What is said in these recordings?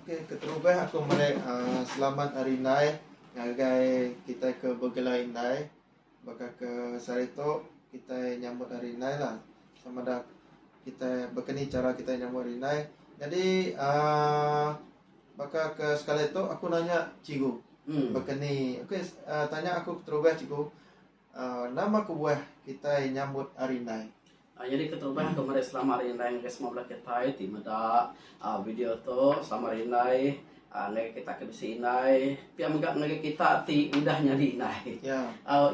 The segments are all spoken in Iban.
Okey keterubah aku meri uh, selamat hari indai ngagai kita ke bergelai indai baka ke sehari tu kita nyambut hari indai lah sama ada kita bakani cara kita nyambut hari indai jadi uh, baka ke sekali tu aku nanya cikgu hmm. bakani okey uh, tanya aku keterubah cikgu Nama kebuah kitai nyambut Hari Indai? Nyadi keterubah ke meri Selamat Hari Indai ngagai semua bala kitai ti meda video tu. Selamat Hari Indai ngagai kita ke bisi indai. Pia mega ngagai kita ti udah nyadi indai.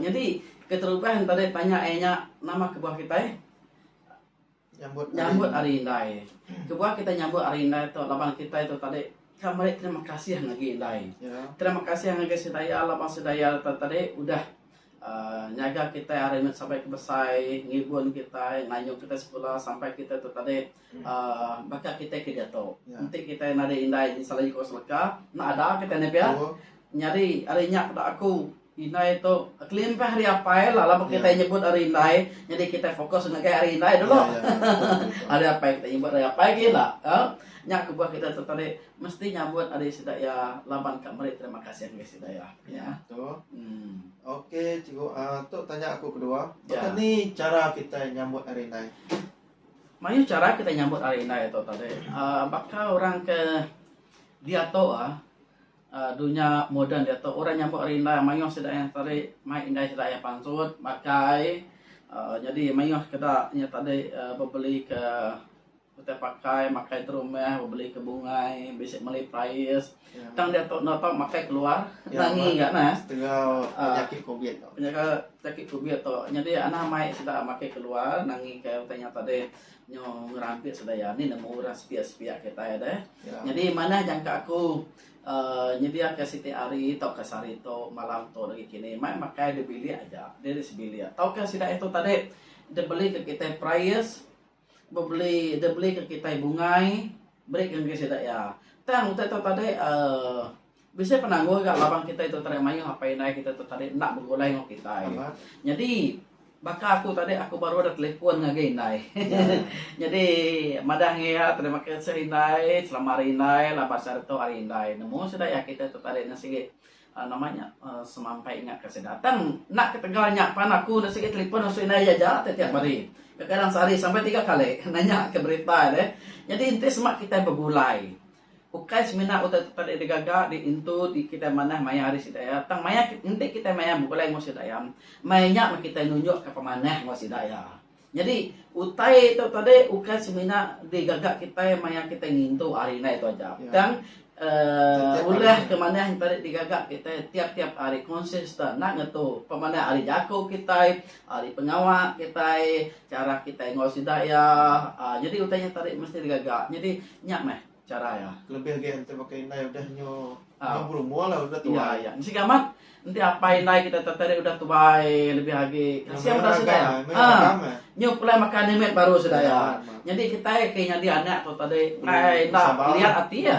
Nyadi keterubah enti deh tanya iya nya nama kebuah kitai? Nyambut Hari Indai. Kebuah kitai nyambut Hari Indai tu laban kitai tu tadi ka meri terima kasih ngagai indai. Terima kasih ngagai Sedaya laban Sedaya tu tadi udah uhh nyaga kitai ari meh sabai ke besai, ngibun kitai, ngayuh kitai sekula sampai kitai tu tadi uhh baka kitai ke diatu. Enti kitai nadai indai salah nyengkawa seleka, enda ada kitai nih pia. Nyadi ari nya peda aku. Indai tu kelimpah ari apai lah laban kitai nyebut ari indai nyadi kitai fokus ngagai ari indai dulu. ari apai kitai nyebut ari apai gin la. Ka. Nya kebuah kitai tu tadi mesti nyambut ari sida iya laban ka meri terima kasih ngagai sida iya. Iya tu. Em. Okey cikgu ah tu tanya aku kedua. Baka ni chara kitai nyambut ari indai? Mayuh chara kitai nyambut ari indai tu tadi. Aaa baka orang ke diatu ah. Dunya moden diatu orang nyambut ari enda mayuh sida iya tadi mai indai sida iya pansut makai nyadi mayuh keda nya tadi bebeli ke utai pakai makai ke rumah bebeli ke bungai bisi meli pais tang diatu enda tau makai keluar nangi ga ne penyakit covid penyakit covid tu nyadi anang mai sida makai keluar nangi ke utai nya tadi. Nyo ngerampit sebaya ni nemu urang sepiak-sepiak kitai deh. Yeah. Nyadi manah jangka aku uh, nyediaka siti hari tauka sehari tu malam tu lagi kini mai makai di bilik aja, diri sebilik. Tauka sida itu tadi dia beli ke kita prayers, beli dia beli ke kita bungai, beri ke sida ya. Tang utai tu tadi uh, Bisi penanggul ga laban kitai tu tadi mayuh apai indai kitai tu tadi enda begulai enggau kitai. Nyadi baka aku tadi aku baru ada telefon ngagai indai. Nyadi madah ngi iya terima kasih indai selama hari indai laban sehari tu hari indai nemu sida iya kitai tu tadi nya sigi aaa nama nya aaa semampai ingat ka sida. Tang enda ketegal nya pan aku enda sigi telefon ngasu indai iya aja ti tiap hari. Kadang-kadang sehari sampai tiga kali nanya ke berita deh. Nyadi enti sema kitai begulai Ukai semina utai tempat dek digaga, dek intu ti kitai manah maya hari sida iya, tang maya enti kitai maya begulai enggau sida iya, maya nya meh kitai nunjukka pemanah enggau sida iya. Nyadi, utai tu tadi ukai semina digaga kitai maya kitai ngintu hari indai tu aja, tang uhh ulah ke manah enti ari digaga kitai tiap-tiap hari, consistent, enda ngetu. Pemanah ari jaku kitai, ari pengawa kitai, chara kitai enggau sida iya, uhh nyadi utai nya tadi mesti digaga. Nyadi. Nya meh chara iya. Kelebih agi enti baka indai udah nyu nyu berumur lah udah tuai. Iya iya. Sigi amat enti apai indai kita tadi tadi udah tuai lebih agi kasih udah sudah ya. Ha. Nyu pulai makan ni met baru sudah ya. Nyadi kita ke nyadi anak tu tadi ngai inda lihat ati ya.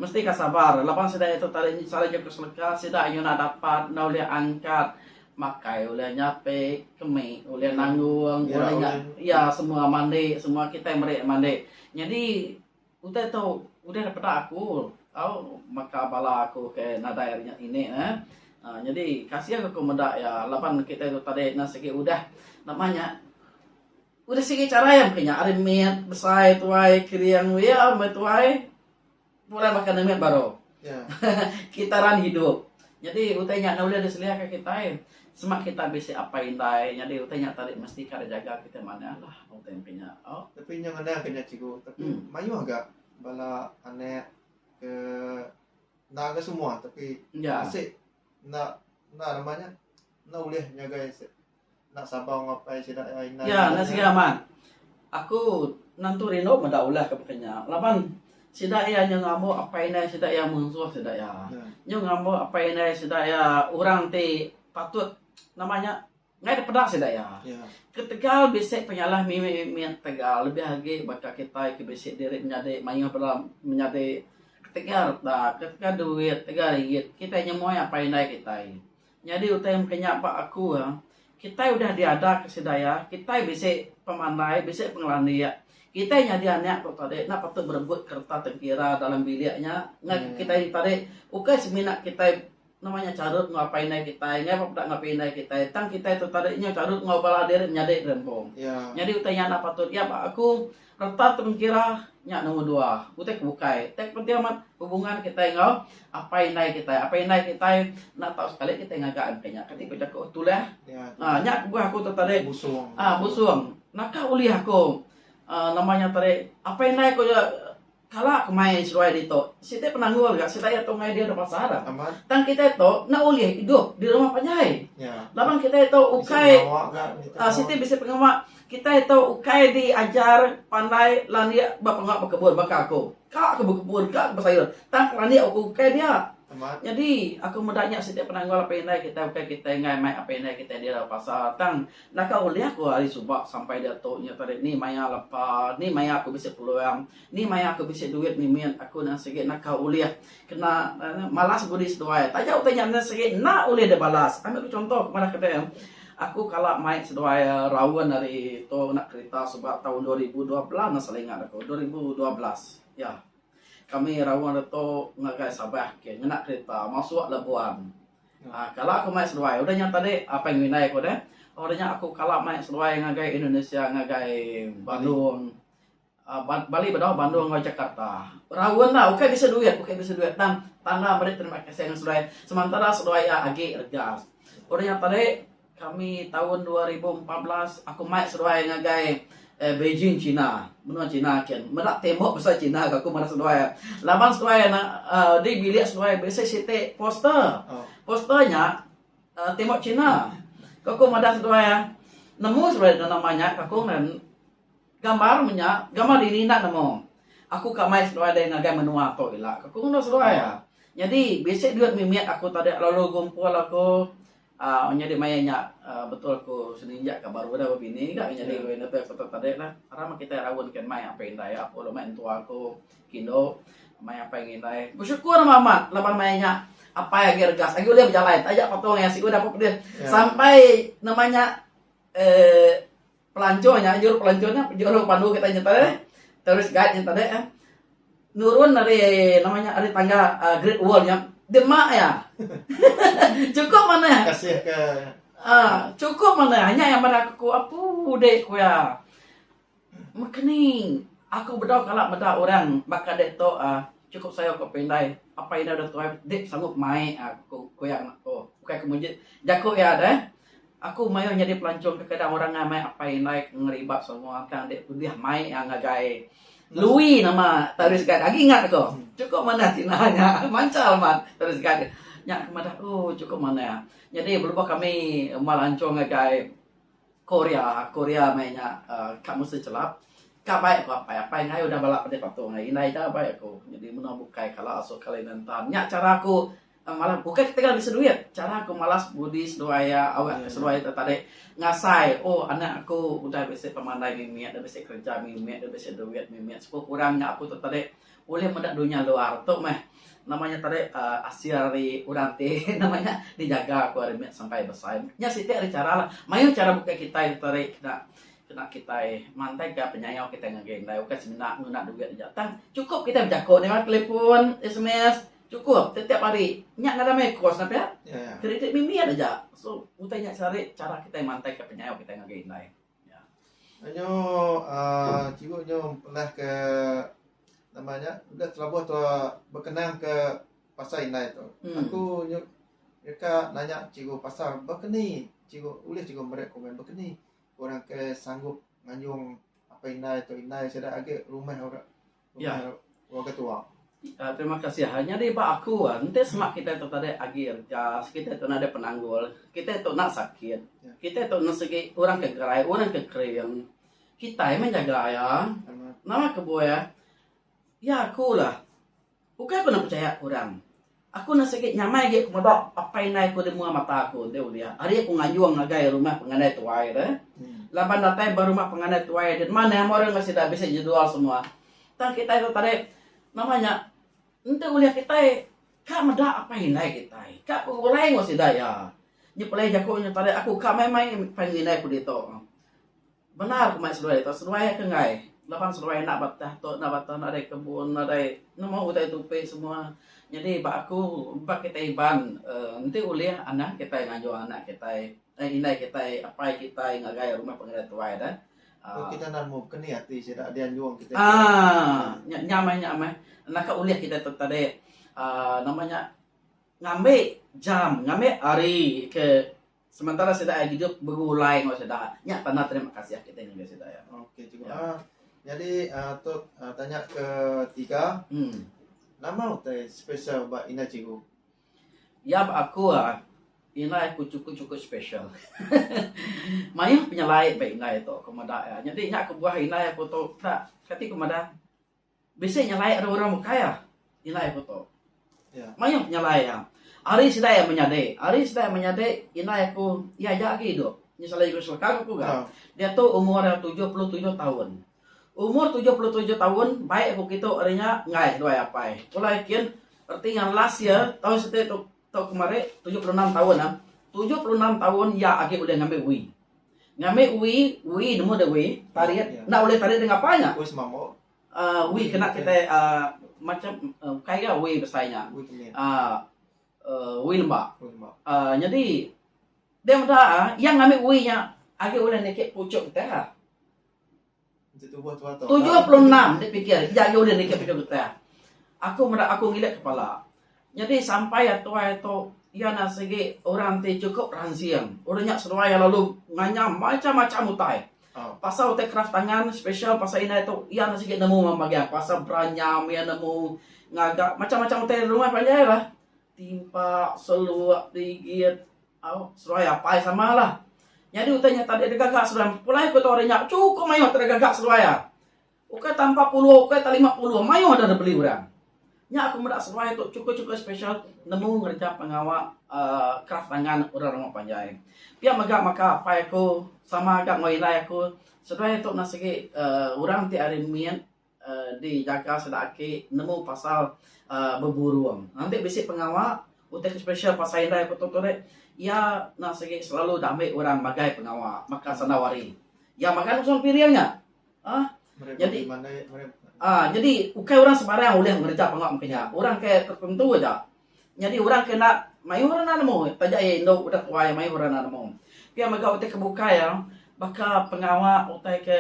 Mesti ka sabar. Laban sida itu tadi sida nyu ke seleka sida nyu nak dapat nda ulih angkat makai ulih nyapi kemi ulih nanggung ya, ulih nya ya semua mandi semua kita meri mandi jadi utai tu udah dipeda aku au maka bala aku ke nadai nya ini eh uh, jadi kasih aku meda ya laban kita tu tadi na segi udah nama nya udah segi cara yang punya ari mit besai tuai kering ya metuai Pulai makan demit baru. Kitaran hidup. Nyadi utai nya enda ulih diselia ka kitai. Sema kitai bisi apai indai nyadi utai nya tadi mesti ka dijaga kitai manah lah utai empi nya tau. Tapi nya ngenang ka nya cikgu tapi mayuh ga bala anak ke enda ga semua tapi asik enda enda nama nya enda ulih nyagai Ya, enda siga amat. Aku nentu rindu meda ulah ke baka nya laban sida iya nyau ngambo apai indai sida iya munsuh sida iya. Nyau ngambo apai indai sida iya orang ti patut nama nya ngaih da peda sida iya. Ketegal bisi penyalah mih mih mit tegal lebih agi baka kitai ti bisi diri menyadi mayuh bala menyadi ketegal utak, ketegal duit, ketegal ringgit kitai nyemoi apai indai kitai. Nyadi utai mega nya ba aku iya, kitai udah diadaka sida iya, kitai bisi pemandai, bisi pengelandik. Kitai nyadi anak tu tadi enda patut berebut kereta tengkira dalam bilik nya ngagai kitai nya tadi. Ukai semina kitai nama nya charut enggau apai indai kitai, ngagai ba peda enggau apai indai kitai tang kitai tu tadi nyau charut enggau bala diri menyadi diri empu. Nyadi utai nya enda patut. Iya ba aku Reta ti mengira nya nombor dua. Utai ke bukai. Utai ke penting amat hubungan kitai enggau apai indai kitai. Apai indai kitai enda tau sekali kitai ngaga iya mungkin nya. Kati ku jaku orang Tulang, uhh nya kebuah aku tu tadi. Busung. Uhh busung. Naka ulih aku uhh nama nya tadi apai indai ku Kala kemai seduai ditu, siti penanggul ga siti iya tu ngagai diri pasal tang kitai tu enda ulih idup di rumah panjai laban kitai tu ukai siti bisi pengawa kitai tu ukai diajar pandai landik ba pengawa bekebun baka aku. Ka aku bekebun ka aku besayur tang landik aku ukai dia. Nyadi aku meda nya siti penanggul apai indai kitai ukai kitai enggai mai apai indai kitai dira pasal tang Naka ulih aku ari suba sampai diatu nya tadi ni maya lepa ni maya aku bisi peluang ni maya aku bisi duit mimit aku nan sigi naka ulih kena malas budi seduai taja utai nya nan sigi enda ulih deh balas ambil ku contoh ku madah kete aku kala mai seduai raun ari tu ngena kerita suba taun dua ribu dua belas nan salah ingat aku dua ribu dua belas ya kami raun reto ngagai sabah ke ngena kerita masuk labuan. Kala aku mai seduai udah nya tadi apai ngelindai aku deh udah nya aku kala mai seduai ngagai Indonesia ngagai Bandung Bali bedau Bandung enggau Jakarta raun la ukai bisi duit ukai bisi duit tang tanda meri terima kasih ngan seduai sementara seduai iya agi rega udah nya tadi Kami taun dua ribu empat belas aku mai seduai ngagai Beijing China menua China kin meda tembok basa China ga aku meda seduai laban seduai di bilik seduai bisi siti poster poster nya tembok China ga aku meda seduai nemu seduai nama nya ga aku meda gambar menya gambar dini enda nemu aku ka mai seduai dei ngagai menua tu ila ga aku meda seduai nyadi bisi duit mimit aku tadi lalu gumpul aku Aaa nyadi maya nya aaa betul ku seninja ka baru udah bebini ga nyadi ku indu tu ku tadi la ra meh kitai raun ken mai apai indai iya aku mai entua aku kindu mai apai ngan indai besyukur meh amat laban maya nya apai agi regas agi ulih bejalai taja patung iya sik udah pun pedeh sampai nama nya eee. Pelanchur nya juruk pelanchur nya juruk pandu kita nya tu terus guide nya tadi eh nurun ari nama nya ari tangga uh, Great Wall nya demak ya. cukup mana? Kasih ke uh, cukup mana? Hanya yang mana aku apa dek ku ya. Mekening aku bedau kala meda orang bakal dek tu uh, cukup saya kau pendai apa ina dah tuai dek sanggup mai aku ku yang aku bukan kemujit jaku ya dah. Aku mayuh nyadi pelancong kekeda orang ngan mai apai indai ke ngeribak semua ke ande kudih mai iya ngagai Lui nama tourist guide agi ingat aku chukup manah tina nya manchal amat tourist guide nya aku madah ooh chukup manah nyadi lebuh kami melancong ngagai Korea Korea meh nya uhh ka mesti chelap ka bai ku apai apai ngai udah bala pedeh patung indai ida bai aku nyadi meno bukai kala asu kala ina nta nya chara ku. Malas ukai ketegal bisi duit cara ku malas budi seduai iya awak ke seduai ita tadi ngasai oh anak aku udah bisi pemandai mimit dah bisi kerja mimit dah bisi duit mimit sepu kurang nya aku tu tadi ulih meda dunya luar tu meh nama nya tadi um asil ari orang ti nama nya dijaga ku ari meh sampai besai. Nya siti ari cara la mayuh cara bukai kitai ti tadi kena kena kitai mantai ka penyayau kitai ngagai indai ukai semina nguna duit aja tang chukup kitai bejako deka telefon sms. Chukup, tetiap hari. Nya ngagai meh kos nah pia. Kredit mimit aja. So, utai nya sehari chara kitai mantaika penyayo kitai ngagai indai. Anyo uhh cikgu nyo mepelahka nama nya udah telabuh tua bekenangka pasal indai tu. Aku nyu reka nanya cikgu pasal bekeni cikgu ulih cikgu meri komen bekeni orang ke sanggup nganjung apai indai tu indai sida agi rumah ora Ya. Wa ketua. Uh, terima kasih. Ah, nyadi ba aku, ah, enti semak kita tu tadi agi ergas, kita tu nadai penanggul, kita tu nak sakit, ya. kita tu nak segi orang ke gerai, orang ke kering, kita yang menjaga ya. Nama kebuah ya? Ya aku lah. Bukan aku nak percaya orang. Aku enda sigi nyamai agi ku meda apai indai aku ti mua mata aku enti ulih ari aku ngayung ngagai rumah pengandai tuai tu laban datai ba rumah pengandai tuai ti nma neh murung enggau sida bisi jedual semua tang kitai tu tadi nama nya enti ulih kitai ka meda apai indai kitai ka begulai enggau sida iya nyepelai jaku nya tadi aku ka main-main apai indai aku ditu. Bendar kemai seduai tu seduai aka enggai laban seduai enda ba tah tu enda ba tah nadai kebun nadai nemu utai tupi semua nyadi ba aku ba kitai Iban uhh enti ulih anang kitai ngayuh anak kitai ai indai kitai apai kitai ngagai rumah pengereja tuai deh uhh nya nya meh nya meh enda ka ulih kitai tu tadi uhh nama nya ngambi jam ngambi hari ke Sementara sida ai gidup begulai enggau sida, nya tanda terima kasih kitai ngagai sida ya. Okey cikgu. Ya. Ha nyadi uh, tu uh, tanya ke tiga. Hmm. Nama utai special ba ina cikgu? Ya ba aku ah ina aku cukup-cukup special. Mayuh penyelai ba ina itu aku meda ya. Nyadi nya aku buah ina aku tu tak kati aku meda Bisi nyelai ari orang bukai ah indai aku tu. Mayuh penyelai iya. Ari sida iya menyadi, ari sida iya menyadi indai aku iya aja agi idup. Nya selalu iku selekang aku ga. Diatu umur iya tujuh puluh tujuh taun. Umur tujuh puluh tujuh taun baik aku kitu ari nya enggai duai apai. Pulai kin reti ngan last year taun siti tu Tau kemari tujuh puluh enam taun am. Tujuh puluh enam taun iya agi ulih ngambi uwi. Ngambi uwi, uwi nemu deh uwi, tarit. Enda ulih tarit deh ngapa nya. uhh uwi kena kitai uhh macam uhh bukai ga uwi besai nya. uhh uwi lemba. uhh nyadi deh meda iya ngambi uwi nya agi ulih niki puchuk kitai. Tujuh puluh enam enti pikir iya ayu ulih nitih penyu getah. Aku meda aku ngilik kepala. Nyadi sampai atuai tu iya nya sigi orang ti chukup ransing. Orang nya seduai iya lalu nganyam macam macam utai pasal utai kraf tangan special pasal indai tu iya nya sigi nemu mamba iya pasal beranyam iya nemu ngaga macam macam utai rumah panjai lah. Timpa, seluk, ligit. Au, seruai apai sama lah. Nyadi utai nya tadi degaga seruai. Pulai ku tau ri nya cukup maioh tadi degaga seruai ah. Ukai ta empat puluh ukai ta lima puluh maioh dah dibeli urang. Nya ku meda seruai tu cukup-cukup special nemu ngereja pengawa uhh kraf tangan urang rumah panjai. Pia mega maka apai ku sama ga enggau indai aku seruai tu enda sigi uhh urang ti ari mit. di jaga sida aki nemu pasal beburung enti bisi pengawa utai ke special pasal indai ku tu ri iya enda sigi selalu da ambi orang magai pengawa baka sandau hari iya makai langsung ke piring nya um nyadi um nyadi ukai orang sembarang ulih ngereja pengawa meka nya orang ke tertentu aja nyadi orang ke enda mayuh enda nemu taja iya indu udah tuai mayuh orang enda nemu pia mega utai ke bukai baka pengawa utai ke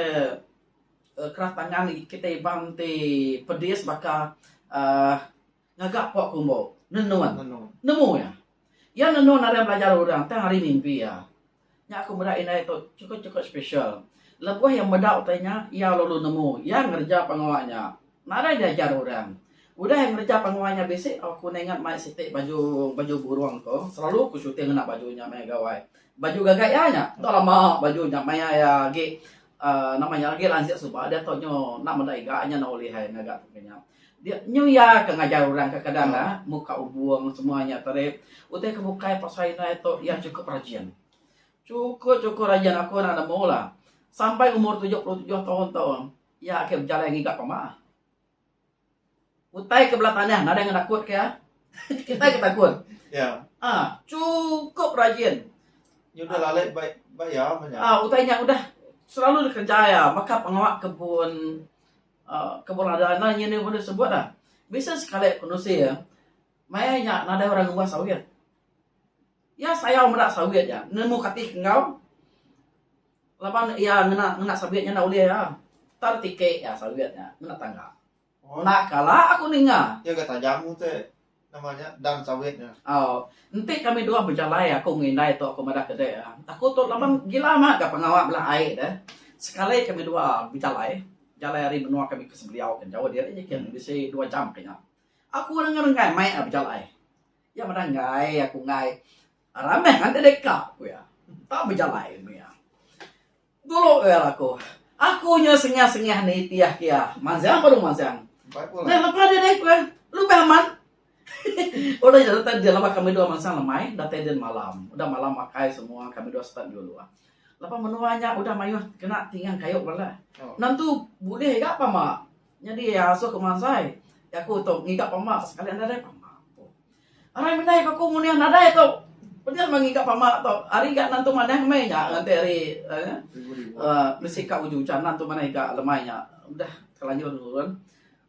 Kraf tangan kitai ibang ti pedis baka uhh ngaga pok kumbu, nenun. Nemu iya. Iya nenun arai belajar orang tang ari mimpi iya. Nya aku meda indai tu chukup-chukup special. Lebuh iya meda utai nya, iya lalu nemu. Iya ngereja pengawa nya. Nadai diajar orang. Udah ai ngereja penguai nya bisi, aku ninga mai siti baju baju burung tu, selalu ku shooting ngena baju nya maya gawai. Baju gaga iya nya. Tu lama baju nya maya iya agi uhh nama nya agi lansik suba diatu nyu enda meda iga nya enda ulih ai ngaga aku nya. Dia nyu iya ke ngajar orang kadang-kadang dah muka ubung semua nya tu deh. Utai ke bukai pasal indai tu iya chukup rajin. Chukup-chukup rajin aku enda nemu lah. Sampai umur tujuh puluh tujuh taun tu. Iya agi bejalai ngiga pama. Utai ke bela tanah nadai ngan aku ke. Kitai ke takut. Ya. Ha, cukup rajin. Nya udah lalai ba ba ya manya. Ah, utai nya udah selalu dikerja ya, maka pengawa kebun uh, kebun ada anak nya ni boleh sebut dah. Bisa sekali penusi ya. Maya nya nadai orang ngubah sawit. Ya sayau meda sawit ya. Nemu katih enggau Laban iya ngena ngena sabit nya enda ulih ah. Tang tiki ah sabit nya ngena tangga. Enda kala aku ninga. Iya ga tajam utai nama nya dang sabit nya. Au. Enti kami dua bejalai aku enggau indai tu aku madah kede ah. Aku tu laban gila amat ga pengawa bela ai deh. Sekali kami dua bejalai, jalai ari menua kami ke Sebeliau ke jauh diri ja kin bisi dua jam ke nya. Aku rengai-rengai mai ah bejalai. Iya madah enggai aku enggai Ramah ngati dek ka, ku iya. Tau bejalai lalu iya. Dulu iya laku. Aku nya sengah-sengah nitih iya. Manzang baru manzang. Nah, laku ada dek, ku iya. Lubah amat. Udah jadi tadi dia lepas kami dua manzang lemai, datai din malam. Udah malam makai semua, kami dua start juluk. Lepas menua nya udah mayuh kena tingang kayu bala. Nang tu bulih ga pama. Nyadi iya asu aku mansai. Jaku tu ngiga pama sekali enda nadai pama. Arai mendai ka aku nguning nadai tu. Peda meh ngiga pama tu. Ari ga nan tu manah meh nya nganti ari uhh uhh bisi ka uju ujan nan tu manah iga lemai nya udah telanjur turun.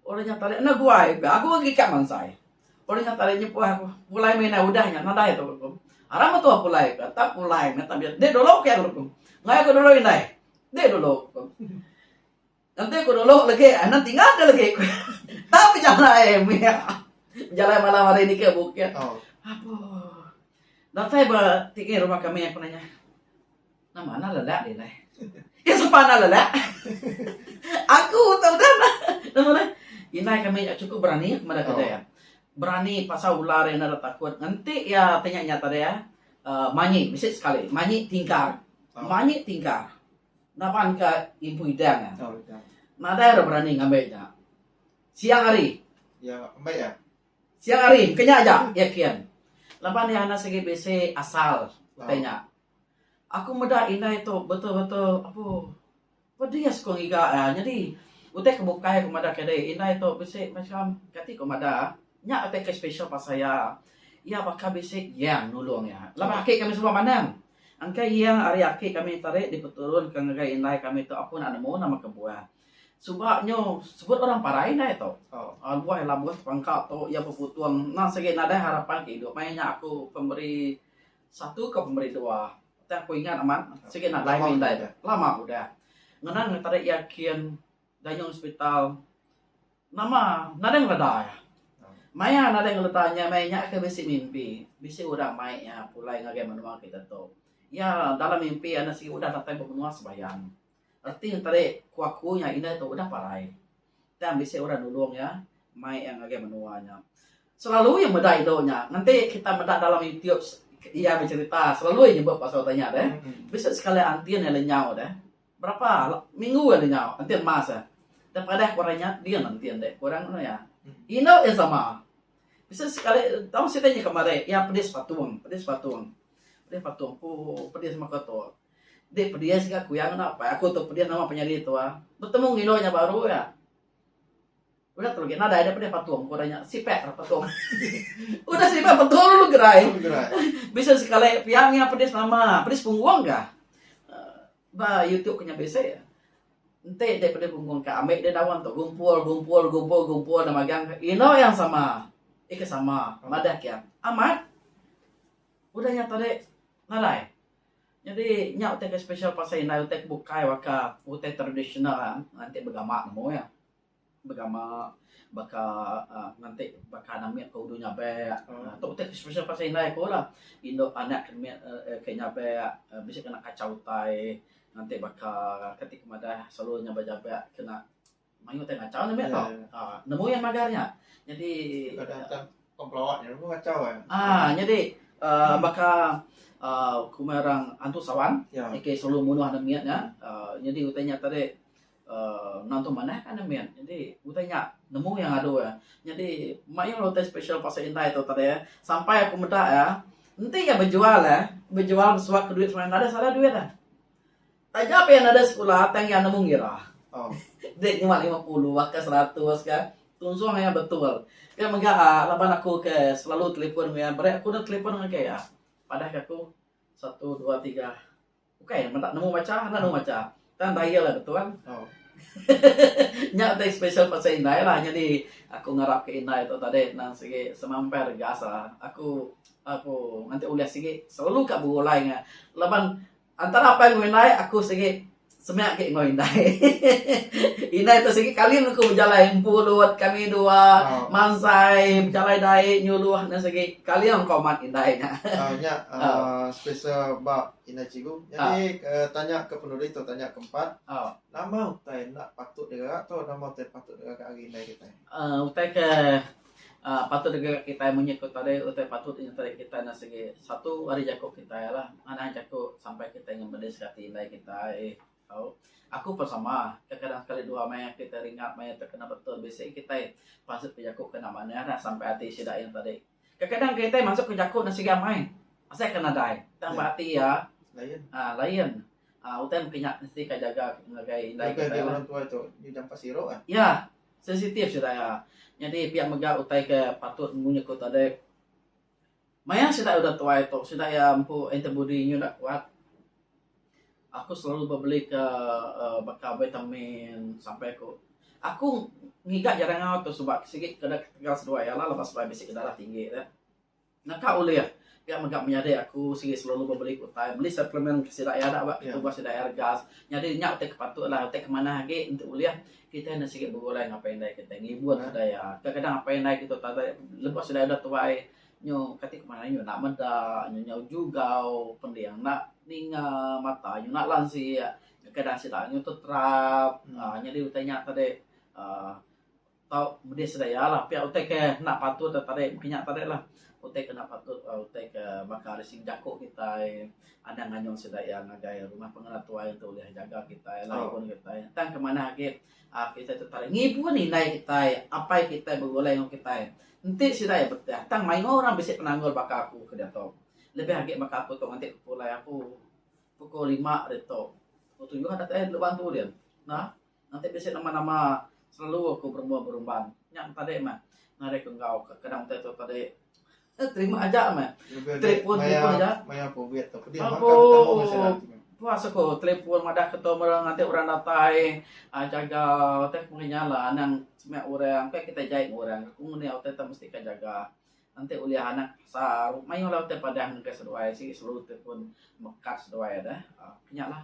Orang nya tali enda guai ka aku agi ka mansai. Orang nya tali nyepah aku pulai meh inai udah nya nadai tu aku. Arai metu aku pulai ka tak pulai meh tabi enda dulu ke aku. Mai aku dulu indai. Ende dulu ku. Enti ku dulu legi anak tinggal ke legi ku tang bejalai mih bejalai malam hari ni ke bukit apuh datai ba tinggi rumah kami aku nanya nama anak lelak ni lai ke sapa anak lelak aku tau udah meh nama deh indai kami nya cukup berani aku meda kedai iya berani pasal ular iya enda takut enti iya ti nya tadi manyi bisi sekali manyi tingkar manyi tingkar. Naban ka Empu Idang nya. Nadai orang berani ngambi nya. Siang hari. Iya ambi iya. Siang hari engka nya aja iya kin. Laban iya anak sigi bisi asal utai nya. Aku meda indai tu betul-betul apu pedis ku ngiga iya nyadi utai ke bukai ku meda ke dei indai tu bisi macam kati ku meda nya utai ke special pasal iya. Iya baka bisi yang nulung iya. Laban ake kami semua manang. Engka iya ari aki kami tadi dipeturun ke ngagai indai kami tu aku enda nemu nama ke buah suba nyu sebut orang parai indai tu buah ila buah sepangka tu iya beputung nang sigi nadai harapan ke idup maya nya aku pemeri satu ke pemeri dua tang aku ingat amat sigi nadai indai tu lama udah ngena tadi iya kin. Gayung hospital nama nadai ngeleda iya. Maya nadai ngeleda nya meh nya ke bisi mimpi. Bisi orang mai iya pulai ngagai menua kita tu. Iya dalam mimpi iya enda sigi udah datai ba menua sembahyang. Reti tadi ku aku nya indah tu udah parai. Tang bisi orang nulung iya mai iya ngagai menua nya. Selalu iya meda indu nya. Nganti kita meda dalam youtube iya becerita selalu iya nyebut pasal utai nya deh. Bisi sekali aunty iya lenyau deh. Berapa minggu agi nyau enti emas eh. Tang padah ku orang nya din enti enda ku orang anu iya. Indu iya sama. Bisi sekali tau sida nyekap marik iya pedis patung, pedis patung. Pedis patung ku pedis meka tu. Enti pedis ga kuyang enda apai aku tu pedis nama penyadi tu ah. Betemu ngilu nya baru iya. Udah tu lagi nadai daripada patung orang nya sipek lah patung. Udah sipek patung lu gerai. Bisa sekali pia ngi pedis nama, pedis punggung ka. Eh, ba YouTube kena bisa. Enti dia pedis punggung ka, ambil dia daun tu gumpul, gumpul, gumpul, gumpul dan magang ino yang sama. Ika sama, madah kia. Amat. Udah nya tadi nadai. Jadi nya utai ke special pasal indai utai ke bukai waka, utai tradisional nanti begama nemu ya. Begama baka uhh nganti baka anak mit ku uduh nyabek uhh tok ti special pasal indai ku lah. Indu anak ke mit uhh ke nyabek uhh bisi kena kachau utai nganti baka kati ku madah selalu inya ba jabek kena mayuh utai ngachau ne mit tok uhh nemu iya magar nya. Nyadi uhh nyadi uhh baka uhh ku meh orang antu sawan ke selalu munuh anak mit nya uhh nyadi utai nya tadi. Ngantung manah ka enda mit. Nyadi utai nya nemu iya ngadu iya. Nyadi mayuh utai special pasal indai tu tadi eh. Sampai aku meda eh enti iya bejual eh bejual besuak ka duit semina deh salah duit eh. Taja pun iya nadeh sekula tang iya nemu ngira. Oh deh nyuwa lima puluh baka seratus ka tunjung iya betul. Ke mega ah laban aku ke selalu telefon mega iya bere aku nda telefon ngagai iya. Padah ka aku satu dua tiga. Ukai meda nemu macha enda nemu macha. Tang daya lah betul. Nya utai special pasal indai lah nyadi aku ngarap ke indai tu tadi nang sigi semampai regas lah. Aku aku nganti ulih sigi selalu ka begulai nge laban antara apai enggau indai aku sigi semia agi enggau indai. indai tu sigi kali meng ku bejalai empulut kami dua mansai bejalai dai nyuluh ne sigi kali engkau mat indai nya. Nya special ba Indai cikgu. Nyadi ke tanya ke penuli tu tanya ke empat. Nama utai enda patut digerak tu nama utai patut digerak ari indai kitai? Utai ke patut digerak kitai munyi ku tadi utai patut nyentari kitai enda sigi satu ari jaku kitai lah. Manah jaku sampai kitai ngemedis ke ati indai kitai tau. Aku pun sama kadang-kadang sekali dua maya kitai ringat maya tu kena betul bisi kitai pansut bejaku kena manah lah sampai ati sida yang tadi. Kekadang kereta iya masuk ke jaku enda siga mai asai ke nadai tang ba ati iya layan utai mesti nya ka jaga ngagai indai kitai lah iya sensitif sida iya nyadi pia mega utai ke patut munyi ku tadi mayar sida udah tuai tu sida iya empu antibody inya enda kuat. Aku selalu ba belika uhh baka vitamin sampai aku, aku ngiga ja dangau tu sebab sigi kena ketegal seduai iya lah lepas seduai bisi darah tinggi ne. Naka ulih pia mega menyadi aku sigi selalu ba beli utai beli suplemen ke sida iya da ba ke tubah sida iya rega. Nyadi nya utai ke patut lah utai ke manah agi enti ulih kitai enda sigi begulai ngapai indai kitai ngibun sida iya. Kadang-kadang apai indai kitai utai ati lebuh sida iya udah tuai. Nyu kati ku manah nyu enda meda nyu nyau jugau pending enda ninga mata nyu enda lansik kadang sida nyu teterap uhh nyadi utai nya tadi uhh tau medi sedia lah pia utai ke enda patut da tadi mungkin nya tadi lah utai ke enda patut utai ke baka ari segi jaku kitai anang anung sida iya ngagai rumah pengena tuai ntu ulih jaga kitai laun kitai tang ke manah agi Ap kitai tu tau ngibun indai kitai, apai kitai begulai enggau kitai. Enti sida iya betah tang mayuh orang bisi penanggul baka aku ke diatu. Lebih agi baka aku tu ngatik ke pulai aku pukul lima hari tu. Pukul tuyuh adat ai dulu bantu din. Nah, ngatik bisi nama-nama selalu aku berumba-berumban. Nya tadi mah ngatik aku enggau ke kadang utai tu tadi. Terima aja meh. Telepon telepon aja. Maya covid tu pedih maka bertemu dengan sida nanti. Puas aku telepon madah ke tu mera ngati orang datai uh, jaga utai ku ngenya lah anang semak orang kai kita jai ngu orang aku nguni utai ta mesti ka jaga nanti ulih anak sa mayuh lah utai padah ngega seduai si selalu telepon mekat seduai dah uh, kenya lah.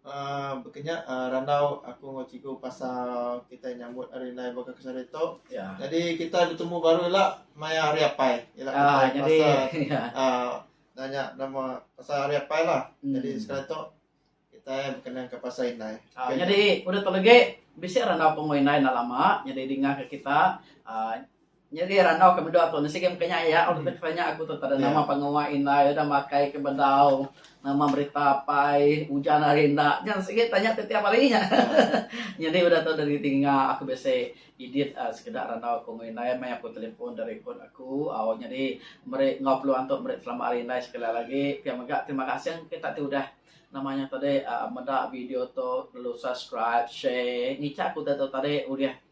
Aaa bekenya aaa randau aku enggau cikgu pasal kitai nyambut hari indai baka kesah hari tu. Nyadi kitai betemu baru ila maya hari apai ila kitai berasa aaa nanya nama pasal hari apai lah. Nyadi sekali tu kitai bekenangka pasal indai. Nyadi udah tu legi bisi randau pengui indai enda lama nyadi dingah ka kita aaa. Nyadi randau ke medok tu nesigi meka nya iya ulih deka tanya aku tu tada nama pengawa indai udah makai ke bedau nama berita apai ujan ari enda nya sigi tanya ti tiap hari nya nyadi udah tu dari tinga aku bisi edit sekeda randau aku enggau indai meh aku telefon da record aku au nyadi meri enggau peluang tu meri selamat hari indai sekali lagi lagi pia mega terima kasih engka kita ti udah nama nya tadi meda video tu lalu subscribe share ngicha aku udah tu tadi ulih.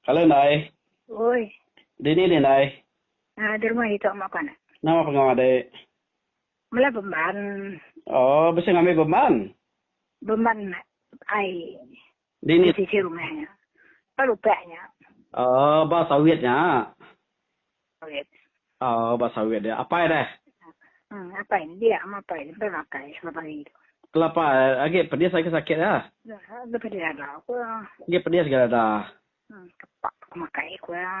Hello Nai. Oi. Dini ni Nai? Ah di rumah ditu ama ku anak. Nama pengawa adik? Mela bemban. Oh bisi ngambi bemban? Bemban ai. Dini? Di sisi rumah nya. Ba lupak nya. Oh ba sawit nya. Sawit. Aaa ba sawit dia. Apai deh. Haa apai ne dia ama apai ne bela akai selapa hari tu. Kelapa agi pedis agi sakit nya. Agi pedis dada aku ya. Agi pedis agi dada. Haa kepak aku makai aku ya.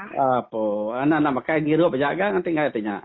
Apo anak enda makai ngirup aja ga nganti ngai ti nya.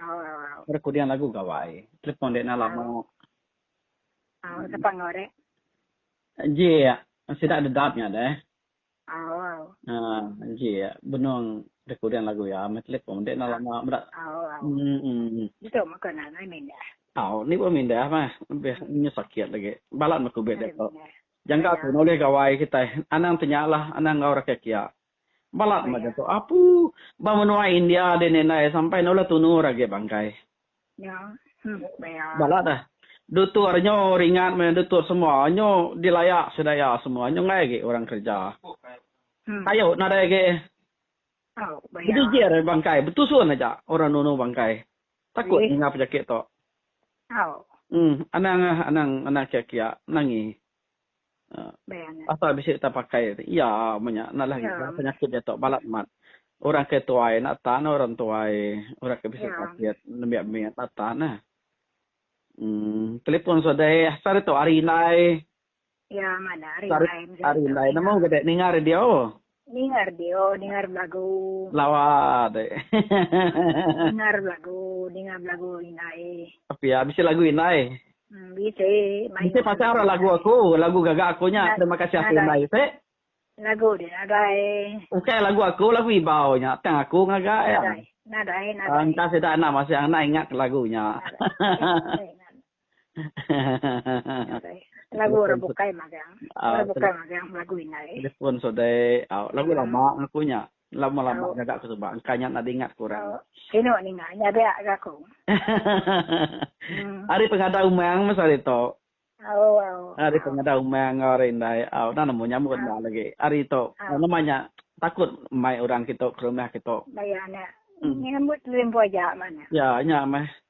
Oh. Recording lagu gawai. Telefon dek nala mo. Oh, sapa ngau dek? Ji sida dedap nya deh. Oh. Uh, ji benung recording lagu ya me telefon dek nala mo bedak. Oh. Hmm. hmm. Itu maka nang ai mindah. Oh, ni pun mindah mah. Lebih hmm. nya sakit lagi. Balat mekubit dek. Jangka tu noleh gawai kita. Anang tenyalah, anang ngau rakyat kia. Balat mega tu apu ba menua India deh ni ndai sampai nulah tunur agi bangkai. Balat deh. Dutur nyu ringat meh dutur semua nyu dilaya sida iya semua nyu enggai agi orang kerja. Tayu nadai agi bejijir bangkai betusun aja orang nunu bangkai takut ninga penyakit tu. Anang anang anang kiak kiak nangi. Pasal bisi tang pakai tu iya amun nya enda lagi ka penyakit diatu balat mat. Orang ke tuai enda tan ne orang tuai orang ke bisi sakit nembiak mit enda tan ne. Em telefon sodai asal ditu ari indai. Ari indai nemu gade ninga radio. Ningar dio, ningar belagu. Lawa deh. Ningar belagu, ningar belagu indai. Pia bisi lagu indai. Bisi mayuh. Bisi pasang ra lagu aku, lagu gaga aku nya terima kasih ati indai se. Lagu dia nadai. Ukai lagu aku lagu ibau nya tang aku ngaga iya. Nadai nadai nadai. Engka sida anang masang enda ingat lagu nya. Nadai nadai. Lagu orang bukai magang. Ah, orang bukai magang lagu inai. Telefon sodai. Ah, lagu ah. lama aku nya. Lama-lama oh. aku sebab engkau nya nak diingat ku orang. Oh. Kino ni ngah nya dia ke aku. hmm. Hari pengada umang masa hari tu. Oh, oh. Hari oh. pengada umang ngau hari indai. Oh, dah nemu nyamut oh. lagi. Hari tu. Oh. Ah. Nama nya takut mai orang kita ke rumah kita. Bayar nya. Hmm. Nyambut limbu aja mana. Ya, nya mah.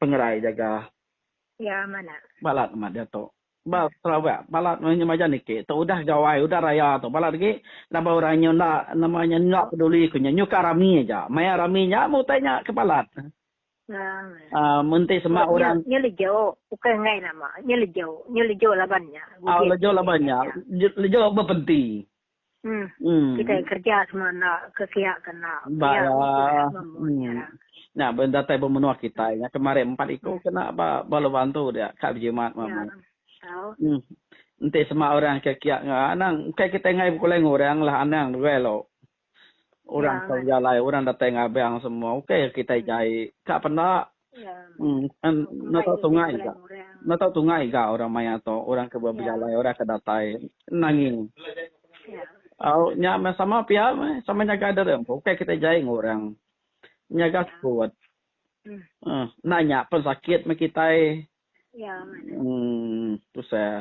Pengerai jaga. Iya mana. Balat amat diatu. Ba Sarawak balat meh nyau maja niki tu udah gawai udah raya tu balat agi laban orang nyau enda nama nya enda peduli ku nya nyukah rami aja maya rami nya meh utai nya ke balat. Aaa mun enti sema orang. Nya lejo ukai enggai nama nya lejo nya lejo laban nya. Au lejo laban nya lejo bepenti. Kitai kerja semua enda ke kiak ke enda. Ba iya. Nya ba datai ba menua kitai nya kemari empat iku kena ba ba lubang tu dia ka bejimat mama. Enti sema orang ke kiak enggau anang engkai kitai enggai bekulai enggau orang lah anang duai lo. Orang ke bejalai orang datai ngabang semua ukai kitai jai ka penda Enda tau tungai ga. Enda tau tungai ga orang maya tu, orang ke bejalai, orang ke datai nangi. Au nya meh sama pia meh, sama nyaga diri empu. Ukai kitai jai enggau orang. Nyaga sekut. Enda nya pen sakit meh kitai. Umm tusah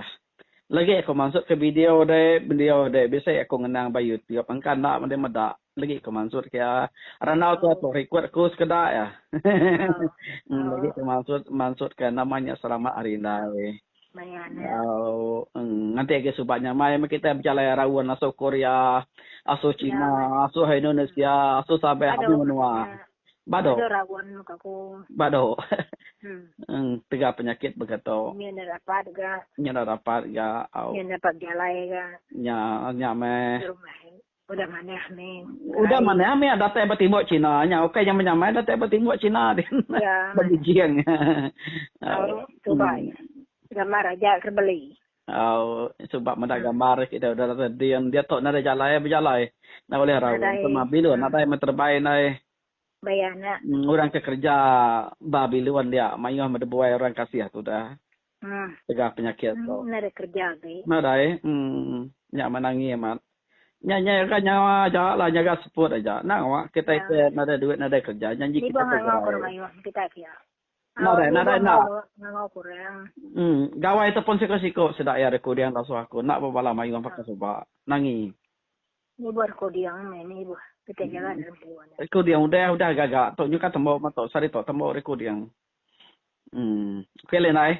lagi aku mansut ke video deh video deh bisi aku ngenang ba YouTube engka enda meda meda lagi aku mansut ke iya randau tu aku record aku sekeda iya emm lagi aku mansut mansut ke nama nya selamat hari indai auu emm nganti agi suba nya mai meh kita bejalai raun asuh korea asuh china asuh indonesia asuh sabah asuh menua. Ba do. Ada raun meh ka ku. Ba do. Eng tega penyakit baka tu. Nya enda rapat ga. Nya enda rapat ga au. Nya enda dapat bejalai ga. Nya nya meh. Rumah ai. Udah manah meh. Udah manah meh datai ba timbok China nya ukai nyamai nyamai datai ba timbok China din. Ba Beijing. Au. Tuba ai. Gambar aja ke beli. Au suba meda gambar kita udah reda din dia tok nadai jalai bejalai enda ulih raun ke ma bilun nadai meh terebai ndai baya nya orang ke kerja ba bilun dia mayuh meh debuai orang kasih tu dah tegah penyakit tu nadai kerja agi nadai uhh nya menangi amat nya nya ga nyawa aja la nyaga seput aja enda awak kita ke nadai duit nadai kerja janji kita ke gerai. Tau Nadai, nadai ngimbang enda. gawa ngangau kurang. Em, gawai ataupun siko-siko sida iya rekoding lasu aku enda bebala mayuh orang pakai suba. Nangi. Nibuh rekoding meh nibuh ketegalan dalam kiwa nya. Rekoding udah, udah gaga tu nyukah tembu metu sehari tu tembu rekoding. Em, okey leh indai.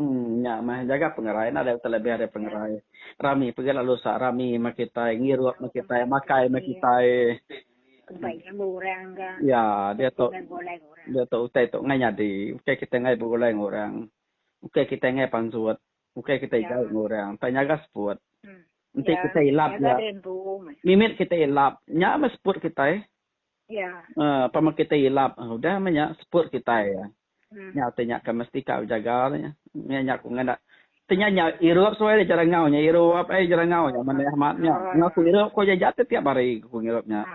Em, nya meh. Jaga pengerai enda deh utai lebih ari pengerai. Rami pegih lalu usak rami meh kitai, ngirup meh kitai, makai meh kitai. Kerebai nemu orang ga. Ya, diatu Ngai begulai enggau orang. diatu utai tu ngai nyadi. Ukai kitai ngai begulai enggau orang. Ukai kitai ngai pansut. Ukai kitai Ya. jauh enggau orang. Tang nyaga seput. Em. Enti Ya, kitai ilap nyaga ja, diri empu meh. mimit kitai ilap, nya meh seput kitai. Pama kitai ilap udah meh nya seput kitai nyau ti nya ke mesti ka bejaga nya nya ku ngaga ti nya nya irup suai nya jerangau nya irup ai jerangau nya meh amat nya ngaku irup ko aja aja tiap hari ku ngirup nya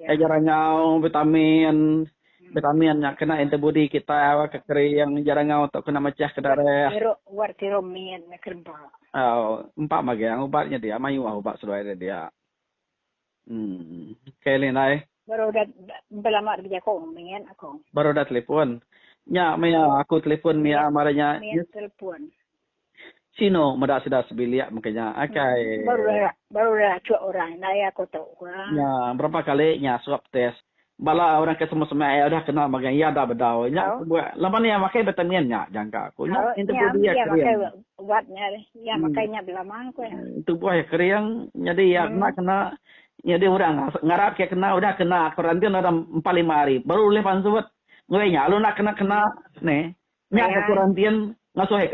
ai jerangau vitamin vitamin nya kena inter budi kitai au ke kering jerangau tu kena mechah ke darah au empa magang ubat nya dia mayuh ubat seduai nya dia. Umm. Kai leh indai. Baru udah belama deh bejakung mit aku. Baru udah telepon. Nya mia aku telepon mia marai nya. Mia telepon. Sino meda sida sebilik mega nya kai. Baru udah baru udah achuk orang indai aku tu. Nya berapa kali nya suap test. Bala orang ke semak-semak iya udah kenal magang iya enda bedau nya ku buat laban iya makai betamin nya jangka ku nya tubuh iya kering. Ubat nya iya makai nya belama ku iya. Tubuh iya kering nyadi iya enda kena nyadi orang ngarap ke kena udah kena kuarantin udah empat lima hari baru ulih pansut. Ngeri nya lalu enda kena kena ni nya ke kuarantin ngasuh.